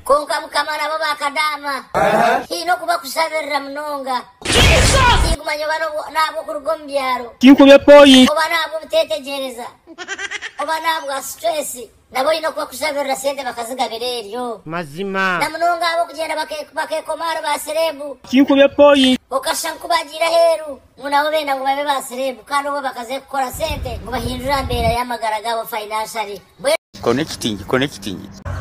Kwonka Mukama nabo bakadaama. Haine okubakushabirira munonga. Tinkumanya oba n'ahabw'okuruga omu byaro. Tinkube poi. Oba n'ahabw'obuteetegyereza. Oba n'ahabwa stress. Nabo oine okubakushabirira sente bakazigabira eryo. Mazima. Na munonga ahabw'okugyenda bakeekoma ahari ba sereebu. Tinkube poi. Okashusha nku baagiire aheeru. ngu nabo benda ngu babe ba sereebu kandi obwo bakaze kukora sente ngu bahindure aha mbeera y'amagara gaabo financially mbwenu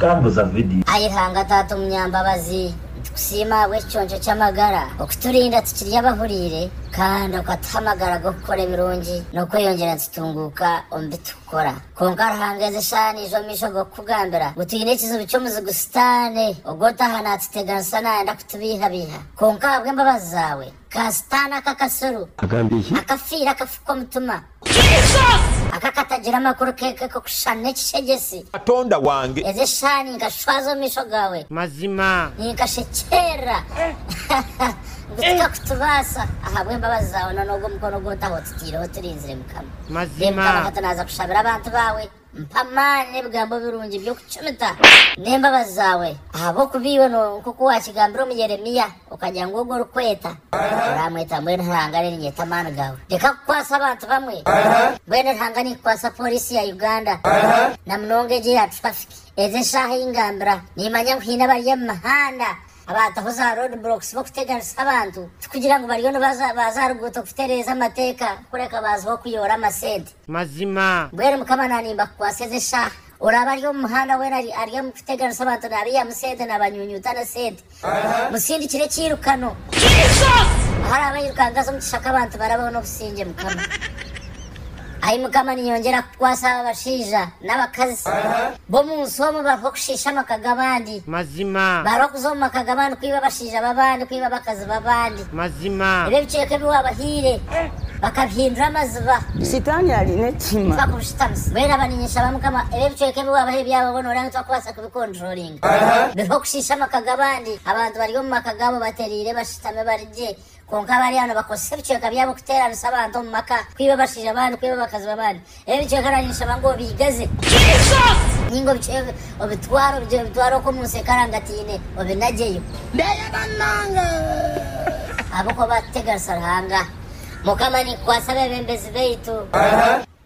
Tambuza vidiyo. Ai Ruhanga Taata Omunyambabazi, nitukusiima ahabw'eki kiconco ky'amagara okiturinda tukiri abahuriire kandi okatuha amagara g'okukora ebirungi n'okweyongyera nitutunguuka omu bi turikukora. Kwonka Ruhanga ezi eshaaha naija omu maisho g'okukugambira ngu twine ekizibu ky'omuzigu Sitaane ogw'otaaha naatuteganisa naayenda kutubeihabeiha. Kwonka ahabw'embabazi zaawe. Ka sitaane aka akasuru. Agambye ki? Akafiire akafu k'omutima. Aka akatagira amakuru keke k'okushushana n'ekishegyesi. Katonda wange. Ezi eshaaha ninkashwaza omu maisho gaawe. Mazima. Ninkashekyerera. Ngu tikakutubaasa. Ahabw'embabazi zaawe n'onoogwo mukono ogu otahootitiireho turinzire, Mukama. Mazima. Reeba, Mukama, nka tunaaza kushabira abantu baawe. Mpa amaani n'ebigambo birungi by'okucumita n'embabazi zaawe, ahabw'okuba iwe nk'oku waakigambire omu Yeremia, okagira ngu ogwo orikweta oraamweta mbwenu Ruhanga aririnyeeta amaani gaawe. Reka kukwatsa abantu bamwe, mbwenu Ruhanga niikukwatsa pooriisi ya Uganda na munonga egyo eya traffic. Ezi eshaaha ei ngambira, niimanya ngu haine abari omu mihanda abaataho za road blocks b'okuteganisa abantu, tikugira ngu bariyo nibaza baaza aha ruguuto kutereeza amateeka kureka baaziho kuyoora amasente. mazima. Mbwenu Mukama naanimba kukwatsa ezi eshaaha. Oraabe ari omu muhanda weena ari ari omu kuteganisa abantu naabaihamu sente naabanyunyuuta n'esente, musindikire ekiirukano. Ahu araabe airukanga aze omu kishaka abantu barabeho n'obusingye Mukama. Ai Mukama ninyongyera kukukwatsa aba bashaija. n'abakazi b'omu nsi omwe baruho kushiisha amaka g'abandi. Mazima. Baruho kuza omu maka g'abandi kwiba abashaija b'abandi, kwiba abakazi b'abandi. Mazima. Ebyo ebicweka ebi waabahaire bakabihindura amaziba. Sitaani ari n'ekihiima. Bakubushitamisa. Mbwenu aba ninyeshaba Mukama ebyo ebicweka ebi waabahaire byaba boona oranga tibakubaasa kubikonturoringa. Biriho kushiisha amaka g'abandi. Abantu bari omu maka gaabo batereire bashutami bari gye. Kwonka abari aho nibakozesa ebicweka byabo kuteeranisa abantu omu maka, kwiba abashaija b'abandi, kwiba abakazi b'abandi. Ebi bicweka nanye nishaba ngu obiigaze. Jesus! Ninga obicweka obitware, obigire obitware okwo omu nsi ekarangataine, obinagyeyo. Ndayega munonga. Ahabw'okuba baatuteganisa Ruhanga. Mukama, nikukwatsa abeebembezi baitu.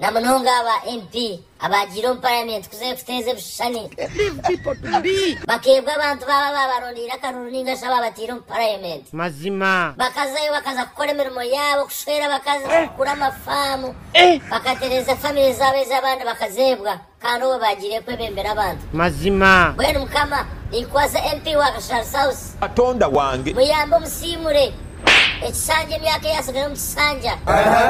na munonga aba MP abaagiire omu Parliament kuza kuteeza ebishushani, bakeebwa abantu baabo abaabarondeire akaruru nainga shi abaabataire omu Parliament. Mazima. Bakazayo bakaza kukora emirimo yaabo, kushwera abakazi, kugura amafaamu, bakatereeza famire zaabo ezi abandi bakazeebwa. Kandi owe bagiire kwebembera abantu. Mazima. Mbwenu mukama ninkukwasa MP wa Kashari South. Katonda wange. Muyambe omusiimure. Ekishanja emyaka eyatsigara omu kishanja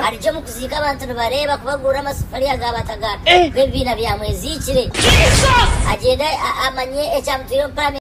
arigye omu kuziika abantu nibareeba ku bagurura amasefuriya ga bataga b'ebibiina bya mweziikire agyende amanye ekyamutwire omu paramenti.